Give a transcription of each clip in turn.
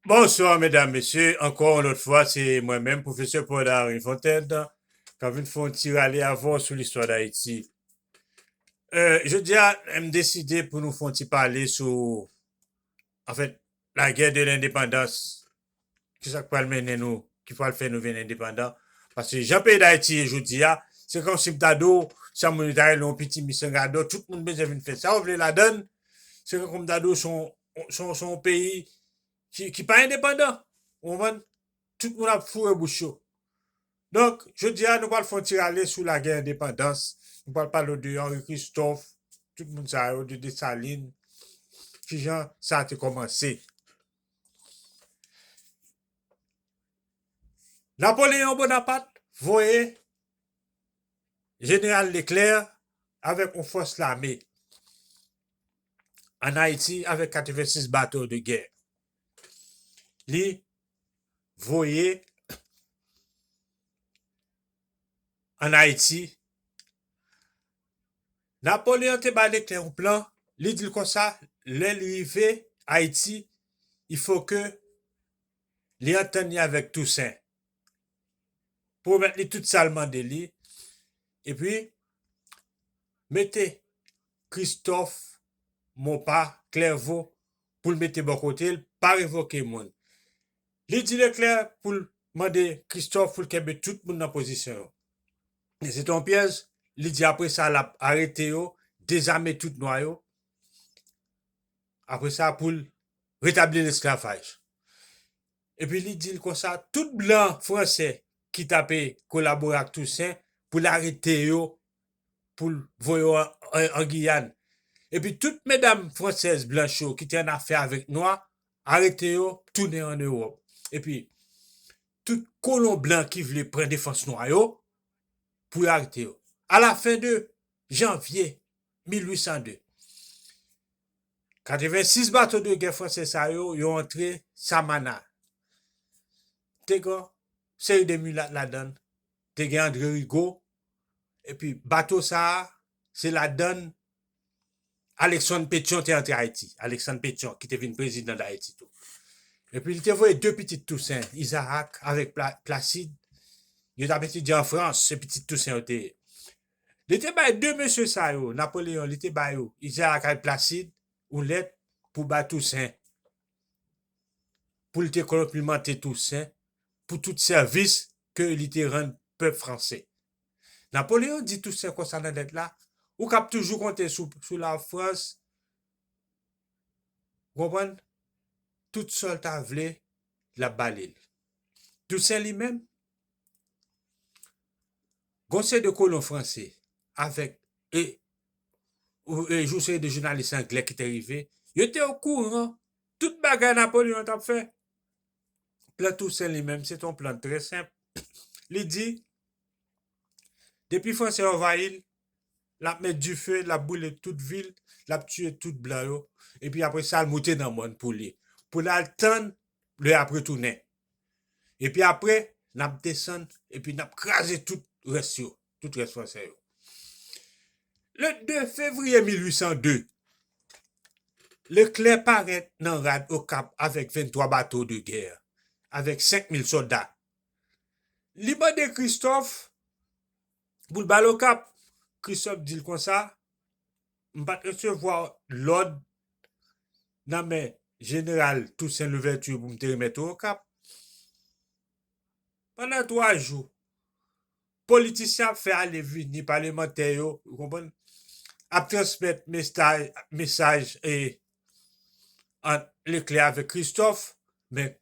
Bonsoir medam mesye ankò yon lòt fwa se mwen menm pwofesè Paul Henri Fontaine kap vin fè yon ti rale avèw sou listwa dayiti jodia m deside pou nou fè yon ti pale sou anfèt lagè de lendepandans ki sa k pral mennen nou, ki pral fè nou vin endepandan. Paske jan peyi Dayiti ye jodi a, se kòmsi m ta di w, san moun yo ta rele w pitimi san gadò, tout moun bezwen vin fè sa yo vle ladan l, se tankou m ta di w se yon se yon peyi ki pa endepandan, ou konprann, tout moun ap foure bouch yo. Donk, jodi a nou pral fè yon ti rale sou lagè endepandans, nou pral pale w de Henri Christophe, tout moun sa yo, de Dessalines, ki jan sa te kòmanse. Napoleon Bonaparte voye Jeneral Leclerc avèk yon fòs lame an Ayiti avèk 86 bato de gè. Li voye an Ayiti Napoleon te bay Leclerc yon plan, li di l konsa lè li rive Ayiti il faut ke li antann li avèk Toussaint, pwomèt li tout sa l mande li, epi mete Christophe Mopa Clerveau pou l mete bò kote l, pa revoke moun. Li di Leclerc pou l mande Christophe pou l kenbe tout moun nan pozisyon yo. Men se te yon pyèj, li di apre sa lap arete yo, dezame tout nwa yo, apre sa poul retabli lesklavaj. Epi li dil konsa, tout blan franse ki tape kolabore ak Tousen poul arete yo, poul voye yo an Giyàn. Epi tout medam fransèz blanch yo ki te annafè avèk nwa, arete yo, tounen an Ewòp. Epi. Tout kolon blan ki vle pran defans nwa yo, pou yo arete yo. A la fen de Janvye 1802, 86 bato de gè franse sa yo, yo antre Samana. Te gen yon seri de milat ladan l. Te gen Andre Rigo. Epi bato sa a, se ladan l. Aleksann Petyon te antre Ayiti. Aleksann Petyon ki te vin prezidan Dayiti tou. Epi li te voye de pitit Tousen, Izarak avèk Plasid, yo t ap etidye an Frans, se pitit Tousen yo te ye. Li te bay de mesye sa yo, Napoleyon, li te ba yo, Izarak ak Plasid, yon lèt pou bay Tousen, pou li te konplimante Tousen pou tout sèvis ke li te rann pèp franse. Napoleon di Toussaint konsa nan lèt la, Ou kab toujou konte sou Lafrans, ou konprann, tout sa l ta vle, l ap ba li l. Toussaint li menm, gon seri de kolon franse avèk e yon seri de jounalis angle ki te rive, yo te okouran tout bagay Napoleon t ap fè. Plan Tousen li menm se t on plan trè senp. Li di, depi Franse anvayi l, l ap met dife, l ap boule tout vil, l ap tiye tout blan yo, epi apre sa l moute nan mòn pou li, pou l al tann lè y ap retounen. Epi apre, n ap desann epi n ap kraze tout rès yo. tout rès Fransè yo. Le 2 fevriye 1802, Leclerc parèt nan rad Okap avèk 23 bato de gè, avèk 5000 sòlda. Li mande Kristòf pou l ba l Okap. Kristòf di l konsa, M pa t resevwa lòd nan men Jeneral Tousen Louvèti pou m te remèt ou Okap. Pandan twa jou, Politisyen ap fè ale vini palemantè yo ou konprann ap transmèt mestaj mesaj e ant Leclerc avèk Christophe men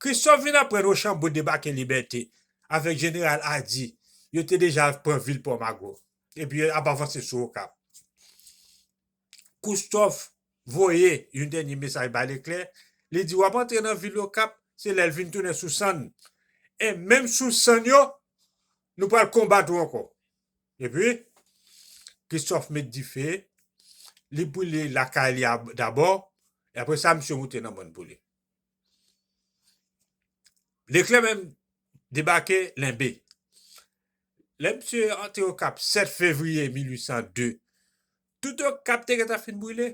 Christophe vin aprann Rochambeau debake Libète avèk jeneral Ady yo te deja pran vil Pòmago epi yo ap avanse sou Okap. Koustof voye yon dènye mesaj bay Leklè, li di w ap antre nan vil Okap, se lè l vin tounen sou sann. E menm sou sann yo, nou pral konbat ou ankò. Epi, Koustof met dife, li boule lakay li dabò, e apre sa misye moute nan mòn pou li. Leklè menm debake Lenbe. Lè misye antre Okap 7 fevriye 1802, Tout okap te gentan fin brile.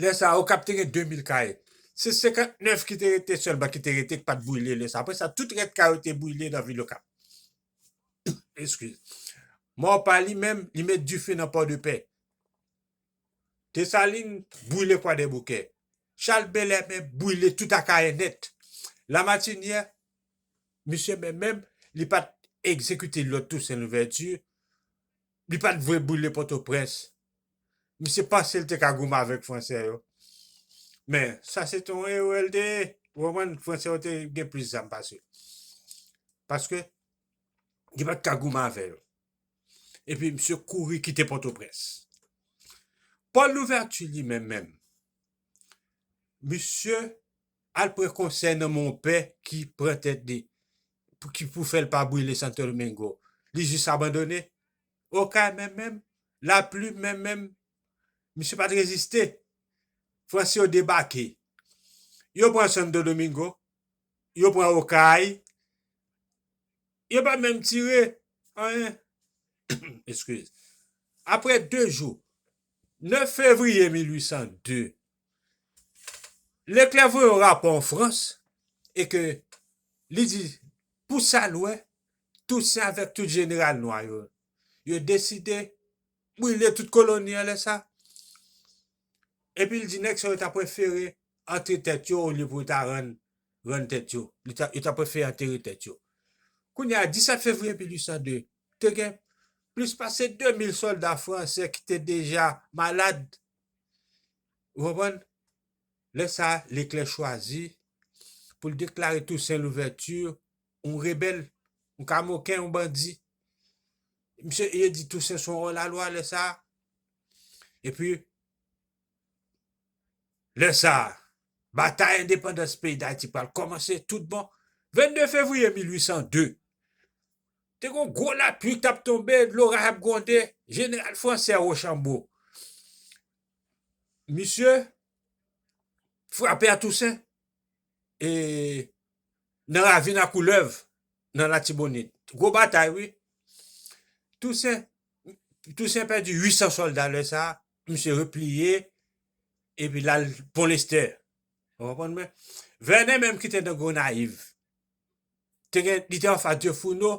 Lè sa okap te gen 2000 kay. Se 59 ki te rete sèlman ki te rete ki pat brile lè sa. Apre sa tout rès kay yo te brile nan vil okap. Eskiz. Maurepas li menm li met dife nan Pòdepè. Desalin brile Kwadèboukè. Chal Belè menm brile tout Akayè nèt. Lamatinyè misye menm menm li pat egzekite lòd Tousen Louvèti Li pat vle brile potoprens. Misye pansel te ka goumen avek fransè yo. Men sa se te yon erè l te ye. Ou konprann? Fransè yo te gen plis zam pase l. Paske li pat ka goumen avè yo. Epi misye kouri kite potoprens. Paul Louverture li menm menm. Misye al pran konsèy nan monpè ki pran tèt li. Pouki pou fèl pa brile santo domingo li jis abandone okay menm menm la plume menm menm misye pat reziste franse yo debake yo pran santo domingo yo pran okay yo pa menm tire anyen eskiz aprè 2 jou 9 fevriye 1802 Leclerc voye yon rapò an Frans e ke li di pou sa l wè Tousen avèk tout jeneral nwa yo, yo deside brile tout koloni an lè sa. Epi l di nèg sa yo ta prefere antre tèt yo olye pou yo ta rann rann tèt yo. Li ta yo ta prefere antere tèt yo. Kounye a 17 fevriye 1802 te gen plis pase 2000 sòlda franse ki te deja malad Ou konprann? Lè sa a, Leklè chwazi pou l deklare Tousen Louvèti yon rebèl, yon kamoken, yon bandi. Misye, yo di Tousen se yon òlalwa lè sa a. Epi, lè sa a, batay endepandans peyi Dayiti pral kòmanse tout bon. 22 fevriye 1802, Te gon gwo lapli kap tonbe, loraj ap gwonde, jeneral fransè Rochambo, misye frape a Tousen e nan ravin a koulèv nan latibonit, gwo batay wi, Tousen, Tousen pèdi 800 sòlda lè sa, misye repliye epi lal Pon Lestè, ou konprann mwen, Vènè menm kite nan Gonayiv, te gen li te anfas de founo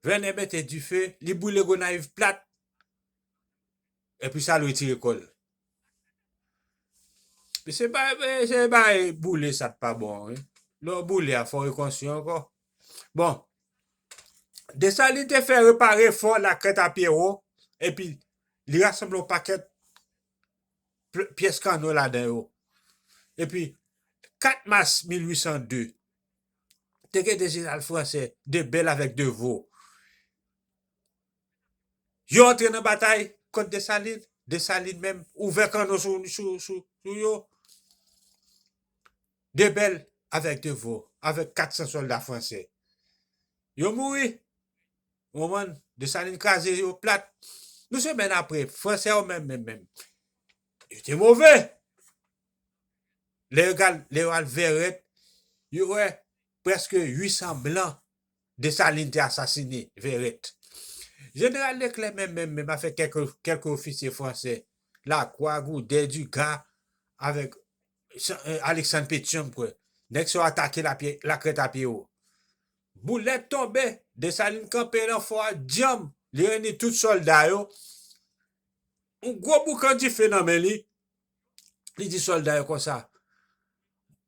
vènè mete dife li boule gonayiv plat epi sal retire kòl mesye bagay se bagay boule sa pa bon wi lè w boule a fò w rekonstwi ankò bon desalin te fè repare fò lakrèt a pyero epi li rasanble yon pakèt pyès kanno ladan yo. Epi, 4 mas 1802, te gen 2 jeneral franse, de Bèl avèk de Vo. Yo antre nan batay kont Desalin, Desalin menm ouvè kanno sou yo, de Bèl avèk de Vo, avèk 400 sòlda franse, yo mouri. Ou konprann? Desalin kraze yo plat. Nou semèn apre, Fransè yo menm menm menm, yo te move! Lè yo al Vèrèt, yo wè prèske 800 blan Desalin te asasine Vèrèt. Jeneral Leklè menm menm menm avèk kèk ofisye fransè, Lakwa, Goudè, Diga, avèk Aleksann Petyon m kwè, nèg sa yo atake Lakrètapyewo. Boulèt tonbe, Desalin kanpe nan fò a dyanm, li reyini tout sòlda yo, yon gwo boukan dife nan men li, li di sòlda yo konsa,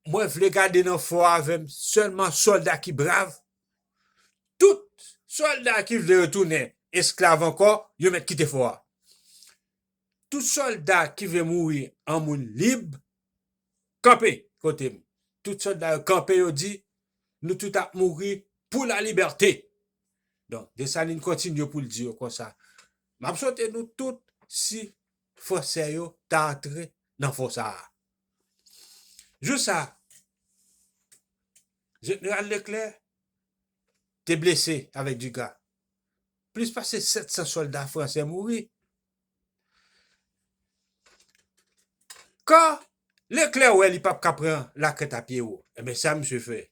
Mwen vle gade nan fò a avè m sèlman sòlda ki brav. Tout sòlda ki vle retounen esklav ankò, yo mèt kite fò a. Tout sòlda ki vle mouri an moun lib, Kanpe! Kote m. Tout sòlda yo kanpe, yo di, Nou tout ap mouri pou lalibète! Donk, Desalin kontinye pou l di yo konsa, M ap sote nou tout si Fransè yo ta antre nan fò sa a. Jou sa a, Jeneral Leklè te blese avèk Dugas. Plis pase 700 sòlda Fransè mouri. Kan Leklè wè li pap ka pran lakrèt a pye wo, enben sa misye fè?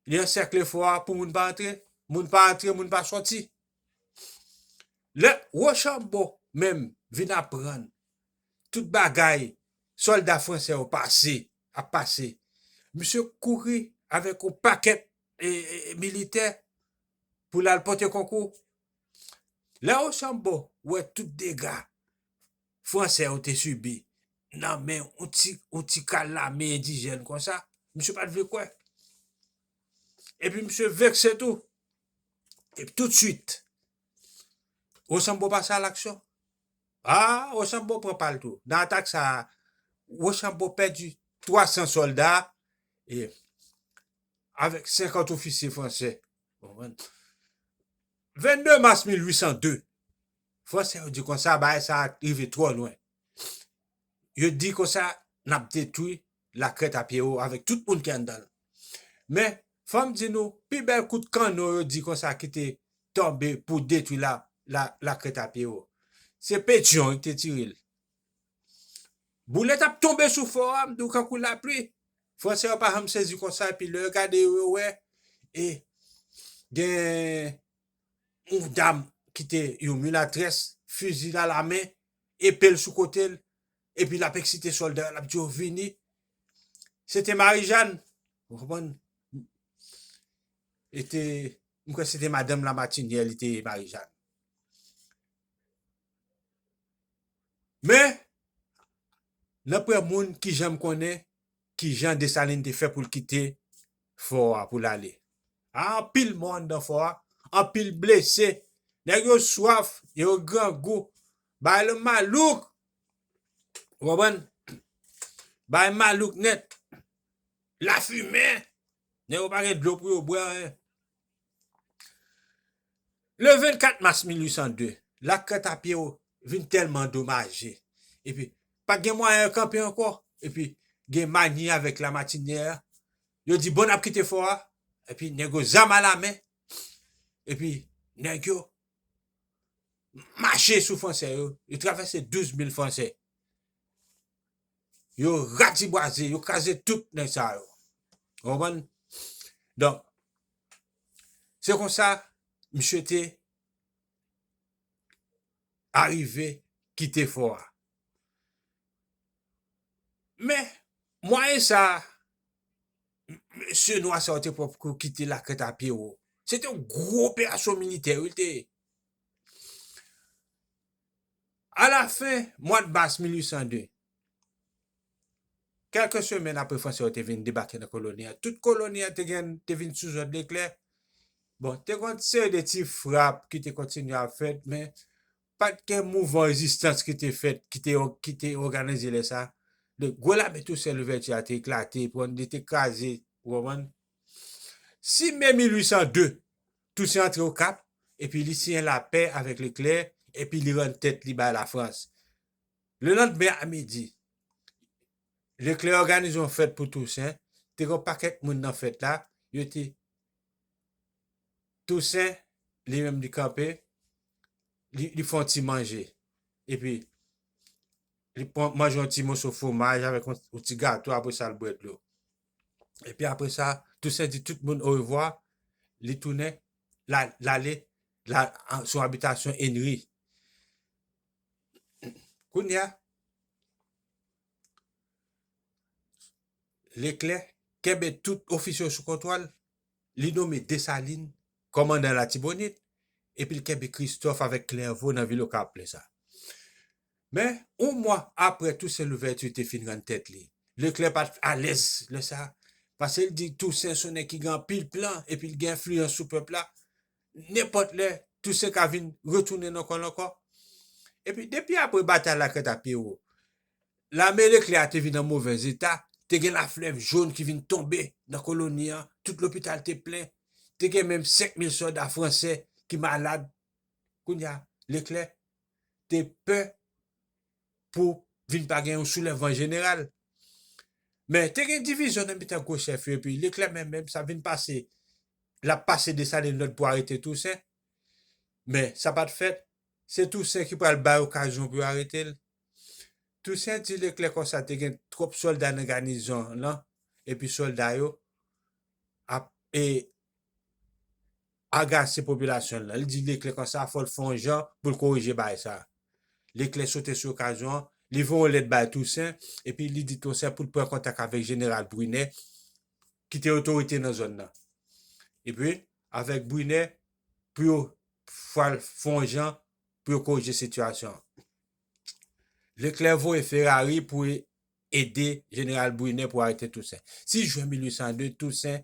Li ansèkle fò a pou moun pa antre, moun pa antre, moun pa sòti. Lè Wochanbo menm vin aprann tout bagay sòlda fransè yo pase, ap pase, misye kouri avèk yon pakèt militè pou l al pote konkou Lè Rochambeau wè tout dega Franse yo te sibi nan men yon ti kal lame endijèn konsa, misye pa t vle kwè. Epi misye vekse tou. Epi toutswit, Rochambeau pase alaksyon. A, Rochambeau pran pa l tou. Nan atak sa a, Rochambeau pèdi 300 sòlda e avèk 50 ofisye franse. 22 mas 1802, Franse yo di konsa, bagay sa a rive twò lwen. Yo di konsa, n ap detwi lakrèt a pye yo avèk tout moun ki anndan l. Men, fò m di nou, pi bèl kout kanno yo di konsa ki te tonbe pou detwi lakrèt a pye yo, se Petyon ki te tire l. Boulèt ap tonbe sou fò a, m di w kankou lapli. Fransè yo pa janm sezi konsa epi lè yo gade yo, yo wè e gen yon dam ki te yon milatrès, fizi l a la men, epe l sou kote l epi l ap eksite sòlda yo, l ap di yo vini. Se te Marijàn, ou konprann? E te, m kwè se te madanm Lamatinyè li te ye Marijàn. Men, nanpwen moun ki janm konnen ki jan Desalin te fè pou l kite fò a pou l ale. A, anpil mò anndan fò a, anpil blese, nèg yo swaf e yo grangou, bagay lan malouk! Ou konprann? Bagay malouk nèt. Lafimen! Nèg yo pa gen dlo pou yo bwè anyen. Le 24 mas 1802, Lak Kantapye o vin tèlman domaje epi pa t gen mwayen kanpe ankò epi gen Magny avèk Lamatiniè yo di bon n ap kite fò a epi nèg yo zam alamen epi nèg yo mache sou Fransè yo, yo travèse 12 mil Fransè. Yo ratibwaze, yo kraze tout nèg sa yo. Ou konprann? Donk, se konsa misye te arive kite fò a. Men, mwayen sa a, mesye nwa sa yo te pran pou yo kite lakrèt a pye wo. Se te yon gwo operasyon militè wi l te ye. A la fen mwad mas 1802, kèlke semèn apre Franse yo te vin debake nan koloni a, tout koloni a te gen te vin sou zòd Leklè. Bon, te gon seri de ti frap ki te kontinye ap fèt, men pat gen mouvan rezistans ki te fèt, ki te ki te òganize lè sa. Donk, gwo lame Tousen Louvèti a te eklate, li te kraze, ou konprann. Si me 1802, Tousen antre Okap epi li siyen lapè avèk Leklè epi li rann tèt li bay Lafrans. Lelandmen a midi, Leklè òganize yon fèt pou Tousen, te gen yon pakèt moun nan fèt la, yo te. Tousen, li menm li kanpe, li fè yon ti manje, epi li manje yon ti moso fwomaj avèk yon ti gato apre sa li bwè dlo. Epi apre sa, Tousen di tout moun orevwa, li tounen, l ale sou abitasyon Enri. Kounya, Leklè kenbe tout ofisye yo sou kontwòl, li nome Desalin kòmandan Latibonit, epi l kenbe Kristòf avèk Klèvo nan vil Okap lè sa a. Men, yon mwa apre Tousen Louvèti te fin rann tèt li, Leklè pa t alèz lè sa a, pase l di Tousen son nèg ki gen anpil plan epi l gen enfliyans sou pèp la, nenpòt lè Tousen ka vin retounen nan kò l ankò. Epi, depi apre batay Lakrèt a Pyero, lame Leklè a te vin nan movèz eta, te gen laflèv jòn ki vin tonbe nan koloni an, tout lopital te plen, te gen menm 5 mil sòlda franse ki malad. Kounye a, Leklè te pè pou vin pa gen yon soulèvman jeneral. Men, te gen divizyon nan mitan gwo chèf yo epi Leklè menm menm sa vin pase, l ap pase Desalin lòd pou arete Tousen. Men, sa pa t fèt. Se Tousen ki pral bay okazyon pou yo arete l. Tousen di Leklè konsa te gen twòp sòlda nan ganizon lan epi sòlda yo ap e. agase popilasyon nan. Li di Leclerc konsa fò l fè yon jan pou l korije bagay sa a. Leclerc sote sou okazyon an, li voye yon lèt bay Toussaint epi li di Toussaint pou l pran kontak avèk jeneral Brunet ki te otorite nan zòn nan. Epi, avèk Brunet pou yo fwa l fè yon jan pou yo korije sitiyasyon an. Leclerc voye Ferrari pou ede jeneral Brunet pou arete Toussaint. 6 jen 1802, Toussaint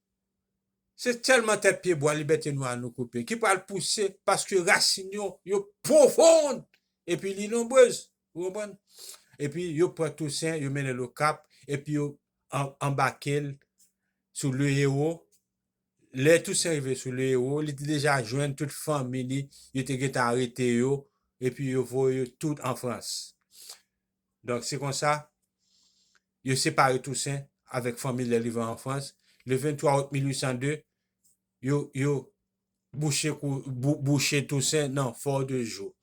Se sèlman tèt pye bwa libète nwa nou koupe ki pral pouse paske rasin yo, yo pwofond epi li nonbrez. Ou konprann? Epi yo pran Tousen, yo mennen l Okap, epi yo anbake l sou Le Héros. Lè Tousen rive sou Le Héros, li te deja jwenn tout fanmi li, yo te gentan arete yo, epi yo voye yo tout an Frans. Donk se konsa, Yo separe Tousen avèk fanmi lè li va an Frans. Le 23 out 1802, yo yo bouche kou bou bouche Tousen nan Fò de Jou.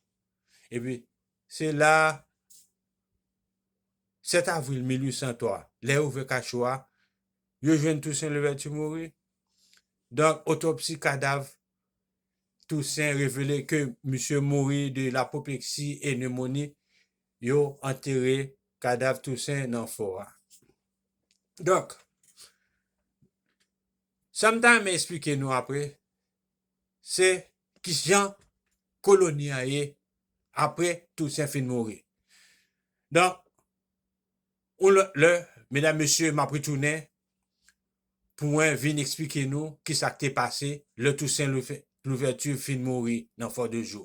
Epi, se la a, 7 avril 1803, lè yo ouvè kacho a, yo jwenn Tousen Louvèti mouri. Donk, otopsi kadav Tousen revele ke misye mouri de lapopleksi e nemoni yo antere kadav Tousen nan fò a. Donk, sa m ta renmen esplike nou apre, se ki jan koloni a ye apre Tousen fin mouri. Donk, yon lòt lè, medam mesye, m ap retounen pou mwen vin esplike nou ki sa k te pase lè Tousen Louvèti fin mouri nan Fò de Jou.